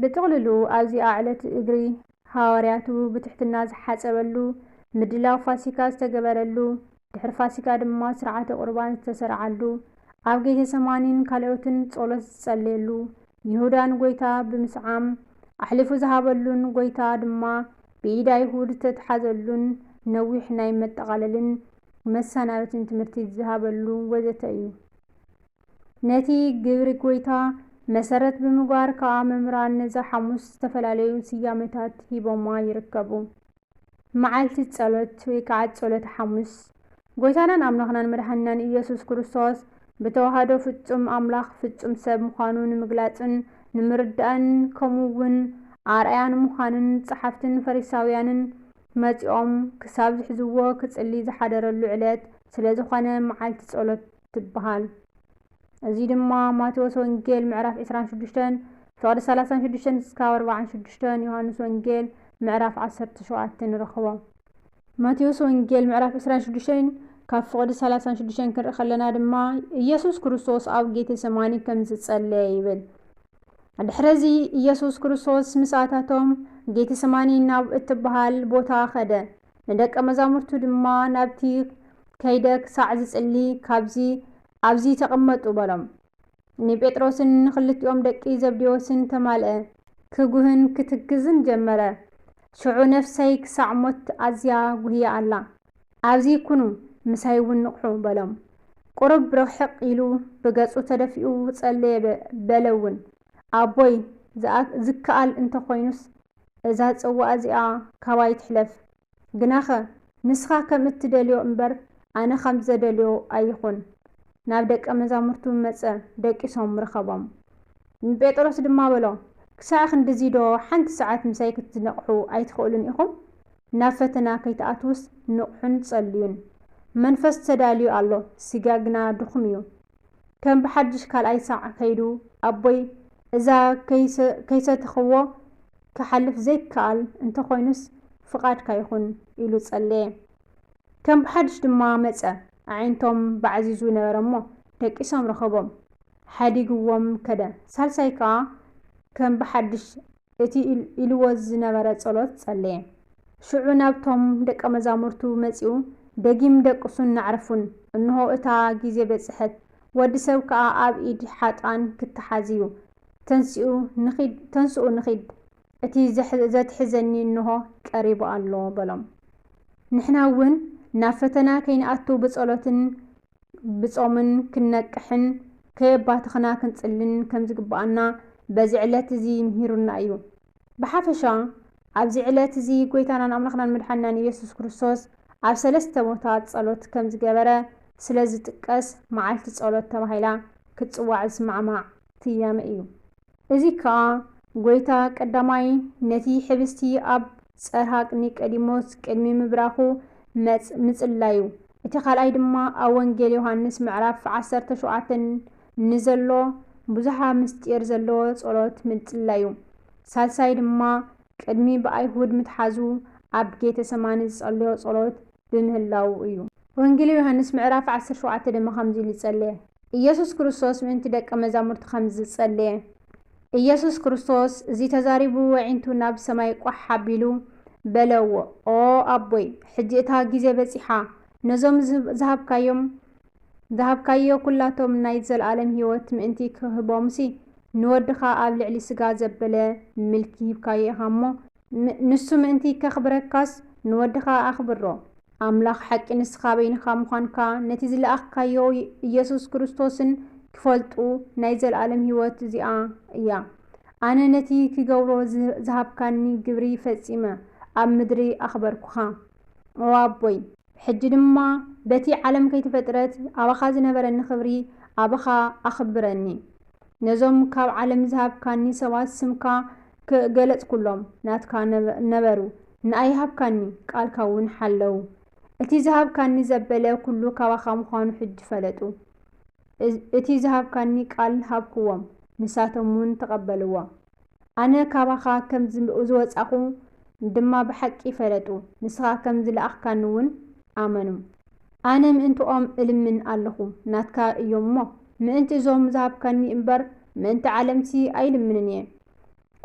ብጥቕልሉ ኣብዚኣ ዕለት እግሪ ሃዋርያቱ ብትሕትና ዝሓጸበሉ፣ ምድላው ፋሲካ ዝተገበረሉ፣ ድሕሪ ፋሲካ ድማ ሥርዓተ ቍርባን ዝተሠርዓሉ፣ ኣብ ጌቴሰማኒን ካልኦትን ጸሎት ዝጸለየሉ፣ ይሁዳ ንጐይታ ብምስዓም ኣሕሊፉ ዝሃበሉን ጐይታ ድማ ብኢድ ኣይሁድ ዝተትሓዘሉን ነዊሕ ናይ መጠቓለልን መሰናበትን ትምህርቲ ዝሃበሉ ወዘተ እዩ። ነቲ ግብሪ ጎይታ መሰረት ብምግባር ከኣ መምህራን ነዛ ሓሙስ ዝተፈላለዩ ስያመታት ሂቦማ ይርከቡ። መዓልቲ ጸሎት ወይ ከኣ ጸሎተ ሓሙስ፣ ጎይታናን ኣምላኽናን መድሓኒናን ኢየሱስ ክርስቶስ ብተዋህዶ ፍጹም ኣምላኽ ፍጹም ሰብ ምዃኑ ንምግላጽን ንምርዳእን ከምኡ እውን ኣርኣያ ንምዃንን ጸሓፍትን ፈሪሳውያንን መጺኦም ክሳብ ዝሕዝዎ ክጽሊ ዝሓደረሉ ዕለት ስለዝኾነ መዓልቲ ጸሎት ትበሃል። እዚ ድማ ማቴዎስ ወንጌል ምዕራፍ ዕስራን ሽዱሽተን ፍቕዲ ሰላሳን ሽዱሽተን እስካብ ኣርባዓን ሽዱሽተን ዮሃንስ ወንጌል ምዕራፍ ዓሰርተ ሸውዓተ ንረኽቦ። ማቴዎስ ወንጌል ምዕራፍ ዕስራን ሽዱሽተን ካብ ፍቕዲ ሰላሳን ሽዱሽተን ክንርኢ ከለና ድማ ኢየሱስ ክርስቶስ ኣብ ጌቴ ሰማኒ ከም ዝጸለየ ይብል። ድሕረዚ ኢየሱስ ክርስቶስ ምስ ኣታቶም ጌቴ ሰማኒ ናብ እትበሃል ቦታ ከደ። ንደቀ መዛሙርቱ ድማ ናብቲ ከይደ ክሳዕ ዝጽሊ ካብዚ ኣብዚ ተቐመጡ በሎም። ንጴጥሮስን ንኽልቲኦም ደቂ ዘብዴዎስን ተማልአ፣ ክጉህን ክትክዝን ጀመረ፣ ሽዑ ነፍሰይ ክሳዕ ሞት ኣዝያ ጉህያ ኣላ፣ ኣብዚ ኩኑ ምሳይ እውን ንቕሑ በሎም። ቁሩብ ርሕቕ ኢሉ ብገጹ ተደፊኡ ጸለየ በለ እውን። ኣቦይ ዝከኣል እንተ ዀይኑስ እዛ ጽዋእ እዚኣ ካባይ ትሕለፍ። ግናኸ ንስኻ ከም እትደልዮ እምበር፣ ኣነ ኸም ዘደልዮ ኣይኹን። ናብ ደቀ መዛሙርቱ መጸ፣ ደቂሶም ረኸቦም። ንጴጥሮስ ድማ በሎ፣ ክሳዕ ኽንድዚዶ ሓንቲ ሰዓት ምሳይ ክትነቕሑ ኣይትኽእሉን ኢኹም? ናብ ፈተና ከይትኣትዉስ ንቕሑን ጸልዩን። መንፈስ ተዳልዩ ኣሎ፣ ስጋ ግና ድኹም እዩ። ከም ብሓድሽ ካልኣይ ሳዕ ከይዱ ኣቦይ እዛ ከይሰተኽዎ ክሓልፍ ዘይከኣል እንተኾይኑስ ፍቓድካ ይኹን ኢሉ ጸለየ። ከም ብሓድሽ ድማ መጸ። ኣዒንቶም ባዕዚዙ ነበረ'ሞ ደቂሶም ረኸቦም። ሓዲግዎም ከደ። ሳልሳይ ከኣ ከም ብሓድሽ እቲ ኢልዎ ዝነበረ ጸሎት ጸለየ። ሽዑ ናብቶም ደቀ መዛሙርቱ መጺኡ፣ ደጊም ደቅሱን ናዕርፉን፣ እንሆ እታ ጊዜ በጽሐት፣ ወዲ ሰብ ከኣ ኣብ ኢድ ሓጥኣን ክተሓዝ እዩ። ተንስኡ ንኺድ፣ ተንስኡ ንኺድ፣ እቲ ዘትሕዘኒ እንሆ ቀሪቡ ኣሎ በሎም። ንሕና እውን ናብ ፈተና ከይንኣቱ ብጸሎትን ብጾምን ክንነቅሕን ከየባተኽና ክንጽልን ከም ዝግብኣና በዚ ዕለት እዚ ምሂሩና እዩ። ብሓፈሻ ኣብዚ ዕለት እዚ ጎይታናን ኣምላኽናን መድሓኒናን ኢየሱስ ክርስቶስ ኣብ ሰለስተ ቦታ ጸሎት ከም ዝገበረ ስለ ዝጥቀስ መዓልቲ ጸሎት ተባሂላ ክትጽዋዕ ዝስማዕማዕ ስያመ እዩ። እዚ ከኣ ጐይታ ቀዳማይ ነቲ ሕብስቲ ኣብ ጸርሃቅ ኒቀዲሞስ ቅድሚ ምብራኹ መጽ ምጽላዩ፣ እቲ ካልኣይ ድማ ኣብ ወንጌል ዮሃንስ ምዕራፍ ዓሰርተ ሸውዓተ ንዘሎ ብዙኃ ምሥጢር ዘለዎ ጸሎት ምጽላዩ፣ ሳልሳይ ድማ ቅድሚ ብኣይሁድ ምትሓዙ ኣብ ጌተሰማኒ ዝጸለዮ ጸሎት ብምህላዉ እዩ። ወንጌል ዮሃንስ ምዕራፍ ዓሰርተ ሸውዓተ ድማ ከምዚ ኢሉ ጸለየ። ኢየሱስ ክርስቶስ ምእንቲ ደቀ መዛሙርቱ ከምዚ ዝጸለየ። ኢየሱስ ክርስቶስ እዚ ተዛሪቡ ወዒንቱ ናብ ሰማይ ቋሕ ኣቢሉ በለዎ ኦ ኣቦይ ሕጂ እታ ጊዜ በጺሓ ነዞም ዝሃብካዮም ዝሃብካዮ ኩላቶም ናይ ዘለኣለም ሕይወት ምእንቲ ክህቦምሲ ንወድኻ ኣብ ልዕሊ ሥጋ ዘበለ ምልኪ ሂብካዮ ኢኻ እሞ ንሱ ምእንቲ ከኽብረካስ ንወድኻ ኣኽብሮ። ኣምላኽ ሓቂ ንስኻ በይንኻ ምዃንካ ነቲ ዝለኣኽካዮ ኢየሱስ ክርስቶስን ኪፈልጡ ናይ ዘለኣለም ሕይወት እዚኣ እያ። ኣነ ነቲ ክገብሮ ዝሃብካኒ ግብሪ ፈጺመ ኣብ ምድሪ ኣኽበርኩኻ። ኦ ኣቦይ! ሕጂ ድማ በቲ ዓለም ከይተፈጥረት ኣባኻ ዝነበረኒ ክብሪ ኣባኻ ኣኽብረኒ። ነዞም ካብ ዓለም ዝሃብካኒ ሰባት ስምካ ገለጽኩሎም፣ ናትካ ነበሩ፣ ንኣይ ሃብካኒ፣ ቃልካ እውን ሓለዉ። እቲ ዝሃብካኒ ዘበለ ኩሉ ካባኻ ምዃኑ ሕጂ ፈለጡ። እቲ ዝሃብካኒ ቃል ሃብክዎም፣ ንሳቶም እውን ተቐበልዋ። ኣነ ካባኻ ከም ዝወጻኹ ድማ ብሓቂ ፈለጡ፣ ንስኻ ከም ዝለኣኽካኒውን ኣመኑ። ኣነ ምእንትኦም እልምን ኣሎኹ፣ ናትካ እዮም እሞ፣ ምእንቲ እዞም ዝሃብካኒ እምበር፣ ምእንቲ ዓለምሲ ኣይልምንን እየ።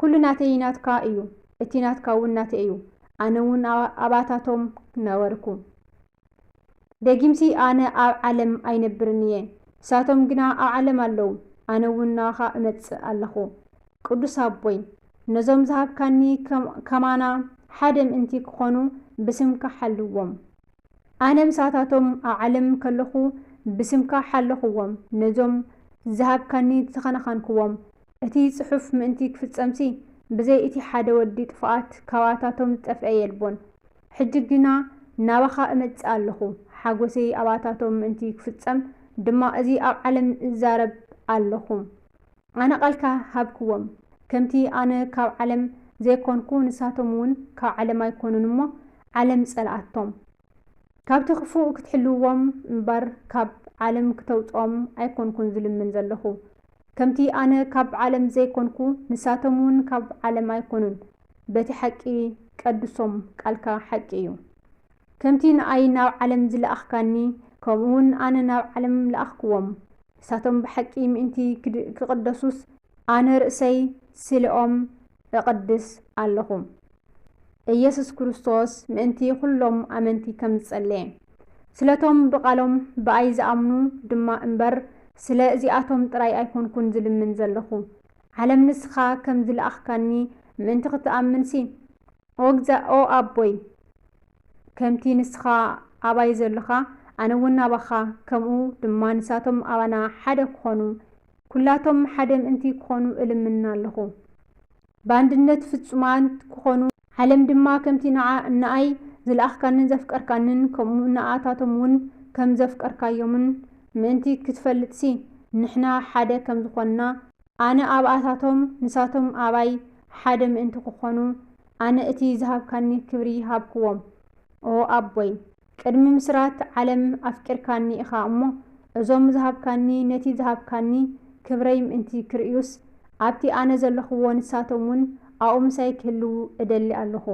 ኵሉ ናተይ ናትካ እዩ፣ እቲ ናትካውን ናተይ እዩ፣ ኣነውን ኣባታቶም ነበርኩ። ደጊምሲ ኣነ ኣብ ዓለም ኣይነብርን እየ፣ ንሳቶም ግና ኣብ ዓለም ኣለዉ፣ ኣነ እውን ናባኻ እመጽእ ኣለኹ። ቅዱስ ኣቦይ፣ ነዞም ዝሃብካኒ ከማና ሓደ ምእንቲ ክኾኑ ብስምካ ሓልዎም። ኣነ ምሳታቶም ኣብ ዓለም ከለኹ ብስምካ ሓለኹዎም፣ ነዞም ዝሃብካኒ ተኸናኸንኩዎም። እቲ ጽሑፍ ምእንቲ ክፍጸምሲ፣ ብዘይ እቲ ሓደ ወዲ ጥፉኣት ካባታቶም ዝጠፍኤ የልቦን። ሕጂ ግና ናባኻ እመጽእ ኣሎኹ፣ ሓጐሰይ ኣባታቶም ምእንቲ ኺፍጸም ድማ እዚ ኣብ ዓለም እዛረብ ኣሎኹ። ኣነ ቓልካ ሃብክዎም፣ ከምቲ ኣነ ካብ ዓለም ዘይኰንኩ፣ ንሳቶም እውን ካብ ዓለም ኣይኰኑን እሞ፣ ዓለም ጸልኣቶም። ካብቲ ኽፉእ ክትሕልውዎም እምበር፣ ካብ ዓለም ክተውጽኦም ኣይኰንኩን ዝልምን ዘሎኹ፣ ከምቲ ኣነ ካብ ዓለም ዘይኮንኩ ንሳቶም ውን ካብ ዓለም ኣይኮኑን በቲ ሓቂ ቀድሶም ቃልካ ሓቂ እዩ ከምቲ ንኣይ ናብ ዓለም ዝለኣኽካኒ ከምኡ ውን ኣነ ናብ ዓለም ለኣኽክዎም ንሳቶም ብሓቂ ምእንቲ ክቅደሱስ ኣነ ርእሰይ ስሌኦም እቕድስ ኣሎኹ። ኢየሱስ ክርስቶስ ምእንቲ ኹሎም ኣመንቲ ከም ዝጸለየ፣ ስለቶም ብቓሎም ብኣይ ዝኣምኑ ድማ እምበር፣ ስለ እዚኣቶም ጥራይ ኣይኮንኩን ዝልምን ዘሎኹ። ዓለም ንስኻ ከም ዝለኣኽካኒ ምእንቲ ኽትኣምንሲ፣ ኦ እግዛ ኦ ኣቦይ፣ ከምቲ ንስኻ ኣባይ ዘሎኻ፣ ኣነውን ኣባኻ፣ ከምኡ ድማ ንሳቶም ኣባና ሓደ ክኾኑ ኩላቶም ሓደ ምእንቲ ክኾኑ እልምና ኣለኹ። ብኣንድነት ፍጹማት ክኾኑ። ዓለም ድማ ከምቲ ንዓ ንኣይ ዝለኣኽካንን ዘፍቀርካንን ከምኡ ንኣታቶም ውን ከም ዘፍቀርካዮምን ምእንቲ ክትፈልጥሲ ንሕና ሓደ ከም ዝኾንና ኣነ ኣብኣታቶም ንሳቶም ኣባይ ሓደ ምእንቲ ክኾኑ ኣነ እቲ ዝሃብካኒ ክብሪ ሃብክዎም ኦኣቦይ። ቅድሚ ምስራት ዓለም ኣፍቂርካኒ ኢኻ እሞ እዞም ዝሃብካኒ ነቲ ዝሃብካኒ ክብረይ ምእንቲ ክርእዩስ ኣብቲ ኣነ ዘለኹዎ ንሳቶም ውን ኣብኡ ምሳይ ክህልዉ እደሊ ኣለኹ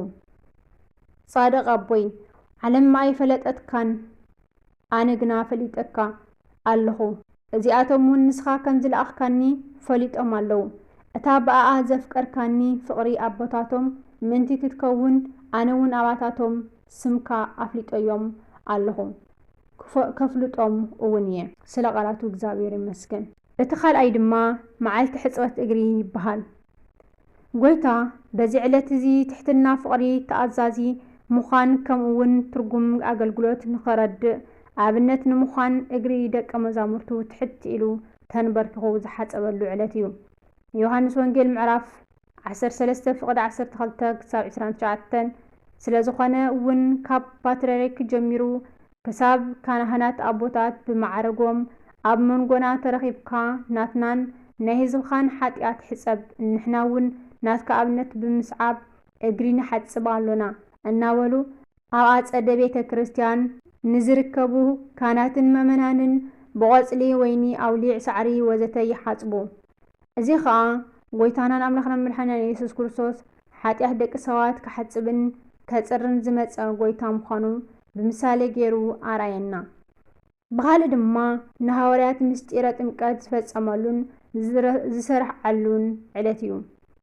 ጻድቕ ኣቦይ ዓለም ኣይፈለጠትካን ኣነ ግና ፈሊጠካ ኣለኹ እዚኣቶም ውን ንስኻ ከም ዝለኣኽካኒ ፈሊጦም ኣለዉ እታ ብኣኣ ዘፍቀርካኒ ፍቕሪ ኣቦታቶም ምእንቲ ክትከውን ኣነ ውን ኣባታቶም ስምካ ኣፍሊጠዮም ኣለኹ ከፍልጦም እውን እየ ስለ ቃላቱ እግዚኣብሔር ይመስገን። እቲ ካልኣይ ድማ መዓልቲ ሕጽበት እግሪ ይበሃል። ጐይታ በዚ ዕለት እዚ ትሕትና ፍቕሪ ተኣዛዚ ምዃን ከምኡ እውን ትርጉም ኣገልግሎት ንኸረድእ ኣብነት ንምዃን እግሪ ደቀ መዛሙርቱ ትሕት ኢሉ ተንበርኪኹ ዝሓጸበሉ ዕለት እዩ። ዮሐንስ ወንጌል ምዕራፍ ዓሰርተ ሰለስተ ፍቕድ ዓሰርተ ክልተ ክሳብ ዕስራን ትሽዓተን ስለ ዝኾነ ውን ካብ ፓትርያርክ ጀሚሩ ክሳብ ካናህናት ኣቦታት ብመዓረጎም ኣብ መንጎና ተረኺብካ ናትናን ናይ ህዝብኻን ሓጥያት ሕጸብ ንሕና ውን ናትካ ኣብነት ብምስዓብ እግሪ ንሓጽብ ኣሎና እናበሉ ኣብ ኣጸደ ቤተ ክርስቲያን ንዝርከቡ ካህናትን መእመናንን ብቖጽሊ ወይኒ ኣውሊዕ ሳዕሪ ወዘተ ይሓጽቡ እዚ ኸኣ ጐይታናን ኣምላኽናን መድሓኒናን ኢየሱስ ክርስቶስ ሓጢኣት ደቂ ሰባት ክሓጽብን ከጽርን ዝመጸ ጐይታ ምዃኑ ብምሳሌ ገይሩ ኣርኣየና። ብኻልእ ድማ ንሃዋርያት ምስጢረ ጥምቀት ዝፈጸመሉን ዝሰርዓሉን ዕለት እዩ።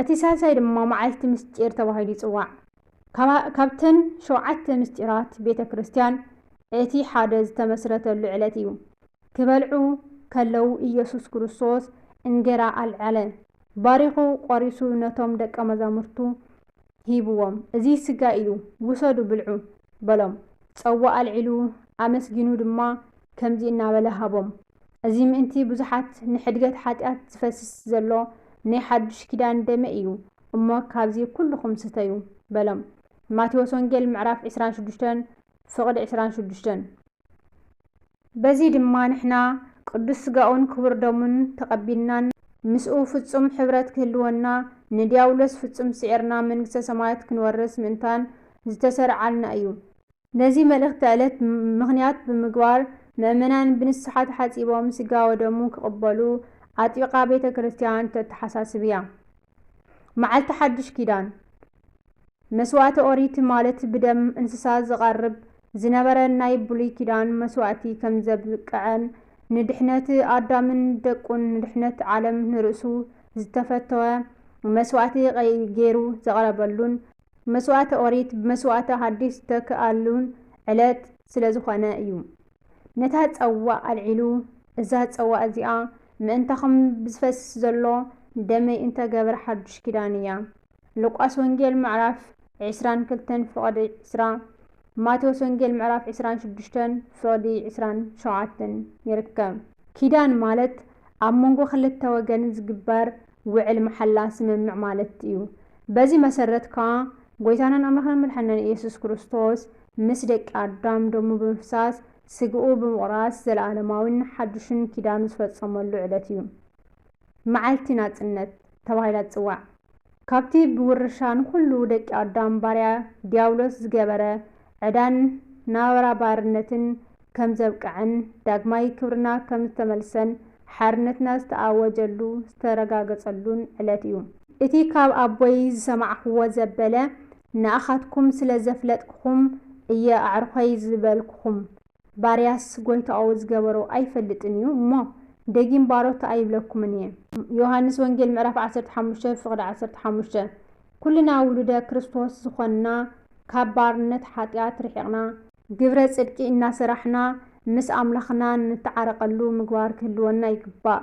እቲ ሳልሳይ ድማ መዓልቲ ምስጢር ተባሂሉ ይጽዋዕ። ካብተን ሸውዓተ ምስጢራት ቤተ ክርስቲያን እቲ ሓደ ዝተመስረተሉ ዕለት እዩ። ክበልዑ ከለዉ ኢየሱስ ክርስቶስ እንጌራ ኣልዓለ፣ ባሪኹ ቆሪሱ ነቶም ደቀ መዛሙርቱ ሂብዎም፣ እዚ ስጋይ እዩ፣ ውሰዱ ብልዑ፣ በሎም። ጸዋ ኣልዒሉ፣ ኣመስጊኑ ድማ ከምዚ እናበለ ሃቦም፣ እዚ ምእንቲ ብዙሓት ንሕድገት ሓጢኣት ዚፈስስ ዘሎ ናይ ሓድሽ ኪዳን ደመይ እዩ እሞ ካብዚ ኵልኹም ስተዩ፣ በሎም። ማቴዎስ ወንጌል ምዕራፍ ዕስራን ሽዱሽተን ፍቕዲ ዕስራን ሽዱሽተን። በዚ ድማ ንሕና ቅዱስ ሥጋኡን ክቡር ደሙን ተቐቢልናን ምስኡ ፍጹም ኅብረት ክህልወና ንዲያብሎስ ፍጹም ስዒርና መንግሥተ ሰማያት ክንወርስ ምእንታን ዝተሠርዓልና እዩ። ነዚ መልእኽተ ዕለት ምኽንያት ብምግባር ምእመናን ብንስሓ ተሓጺቦም ሥጋ ወደሙ ክቕበሉ ኣጥቢቓ ቤተ ክርስቲያን ተተሓሳስብ እያ። መዓልቲ ሓድሽ ኪዳን መስዋእቲ ኦሪት ማለት ብደም እንስሳ ዝቐርብ ዝነበረ ናይ ብሉይ ኪዳን መስዋእቲ ከምዘብቅዐን ንድሕነት ኣዳምን ደቁን ንድሕነት ዓለም ንርእሱ ዝተፈተወ መስዋእቲ ገይሩ ዘቕረበሉን መስዋእቲ ኦሪት ብመስዋእቲ ሓዲስ ዝተክኣሉን ዕለት ስለዝኾነ እዩ ነታ ጸዋእ ኣልዒሉ እዛ ጸዋእ እዚኣ ምእንታኹም ብዝፈስስ ዘሎ ደመይ እንተገብር ሓዱሽ ኪዳን እያ ሉቃስ ወንጌል ምዕራፍ ዕስራን ክልተን ፍቕዲ ዕስራ፣ ማቴዎስ ወንጌል ምዕራፍ ዕስራን ሽዱሽተን ፍቕዲ ዕስራን ሸውዓተን ይርከብ። ኪዳን ማለት ኣብ መንጎ ክልተ ወገን ዝግበር ውዕል መሓላ፣ ስምምዕ፣ ማለት እዩ። በዚ መሰረት ከኣ ጎይታናን ኣምላኽናን መድሓኒናን ኢየሱስ ክርስቶስ ምስ ደቂ ኣዳም ደሙ ብምፍሳስ ስግኡ ብምቑራስ ዘለኣለማዊን ሓዱሽን ኪዳኑ ዝፈጸመሉ ዕለት እዩ። መዓልቲ ናጽነት ተባሂላ ትጽዋዕ። ካብቲ ብውርሻ ንኹሉ ደቂ ኣዳም ባርያ ዲያብሎስ ዝገበረ ዕዳን ናብራ ባርነትን ከም ዘብቀዐን ዳግማይ ክብርና ከም ዝተመልሰን ሓርነትና ዝተኣወጀሉ ዝተረጋገጸሉን ዕለት እዩ። እቲ ካብ ኣቦይ ዝሰማዕክዎ ዘበለ ንኣኻትኩም ስለ ዘፍለጥክኹም እየ ኣዕሩኸይ ዝበልክኹም ባርያስ ጐይታኡ ዝገበሮ ኣይፈልጥን እዩ እሞ፣ ደጊም ባሮት ኣይብለኩምን እየ። ዮሃንስ ወንጌል ምዕራፍ ዓሰርተ ሓሙሽተ ፍቕዲ ዓሰርተ ሓሙሽተ ኩልና ውሉደ ክርስቶስ ዝኾንና ካብ ባርነት ሓጢኣት ርሒቕና፣ ግብረ ጽድቂ እናሰራሕና ምስ ኣምላኽና ንተዓረቐሉ ምግባር ክህልወና ይግባእ፣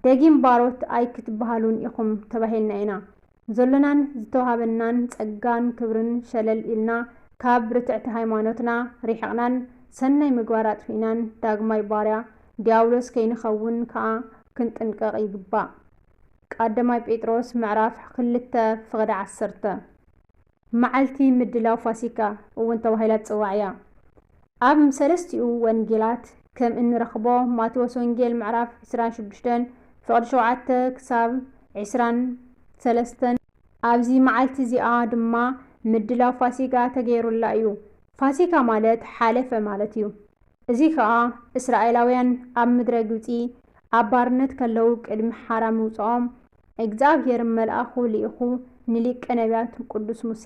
ደጊም ባሮት ኣይክትበሃሉን ኢኹም ተባሂልና ኢና። ዘሎናን ዝተዋህበናን ጸጋን ክብርን ሸለል ኢልና፣ ካብ ርትዕቲ ሃይማኖትና ርሒቕናን ሰናይ ምግባር ኣጥፊእናን ዳግማይ ባርያ ድያብሎስ ከይንኸውን ከኣ ክንጥንቀቕ ይግባእ። ቃደማይ ጴጥሮስ ምዕራፍ ክልተ ፍቕዲ ዓሰርተ። መዓልቲ ምድላው ፋሲካ እውን ተባሂላ ትጽዋዕ እያ። ኣብ ሰለስቲኡ ወንጌላት ከም እንረኽቦ ማቴዎስ ወንጌል ምዕራፍ ዕስራን ሽዱሽተን ፍቕዲ ሸውዓተ ክሳብ ዕስራን ሰለስተን፣ ኣብዚ መዓልቲ እዚኣ ድማ ምድላው ፋሲካ ተገይሩላ እዩ። ፋሲካ ማለት ሓለፈ ማለት እዩ። እዚ ከኣ እስራኤላውያን ኣብ ምድረ ግብጺ ኣብ ባርነት ከለዉ ቅድሚ ሓራ ምውጽኦም እግዚኣብሄር መልኣኹ ልኢኹ ንሊቀ ነብያት ቅዱስ ሙሴ፣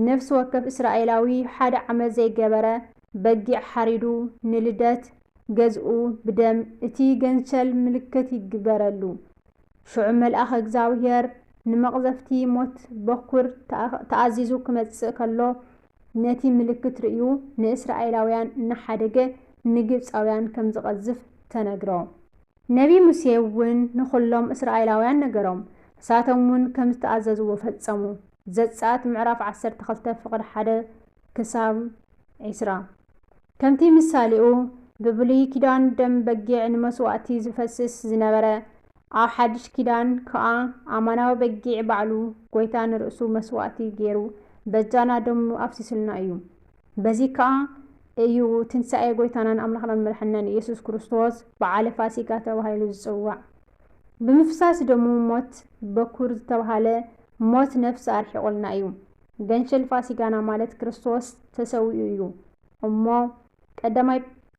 ነፍሲ ወከፍ እስራኤላዊ ሓደ ዓመት ዘይገበረ በጊዕ ሓሪዱ ንልደት ገዝኡ ብደም እቲ ገንሸል ምልክት ይግበረሉ። ሽዑ መልኣኽ እግዚኣብሄር ንመቕዘፍቲ ሞት በኵር ተኣዚዙ ክመጽእ ከሎ ነቲ ምልክት ርእዩ ንእስራኤላውያን እናሓደገ ንግብጻውያን ከም ዝቐዝፍ ተነግሮ። ነብዪ ሙሴ'ውን ንዅሎም እስራኤላውያን ነገሮም፣ ንሳቶም'ውን ከም ዝተኣዘዝዎ ፈጸሙ። ዘጸኣት ምዕራፍ ዓሰርተ ክልተ ፍቕዲ ሓደ ክሳብ ዕስራ፣ ከምቲ ምሳሌኡ ብብሉይ ኪዳን ደም በጊዕ ንመስዋእቲ ዚፈስስ ዝነበረ፣ ኣብ ሓድሽ ኪዳን ከኣ ኣማናዊ በጊዕ ባዕሉ ጐይታ ንርእሱ መስዋእቲ ገይሩ በጃና ደሙ ኣፍሲሱልና እዩ። በዚ ከኣ እዩ ትንሣኤ ጐይታናን ኣምላኽናን መድሓኒናን ኢየሱስ ክርስቶስ በዓለ ፋሲካ ተባሂሉ ዝጽዋዕ። ብምፍሳስ ደሙ ሞት በኵር ዝተባህለ ሞት ነፍሲ ኣርሒቑልና እዩ። ገንሸል ፋሲካና ማለት ክርስቶስ ተሰዊኡ እዩ እሞ ቀዳማይ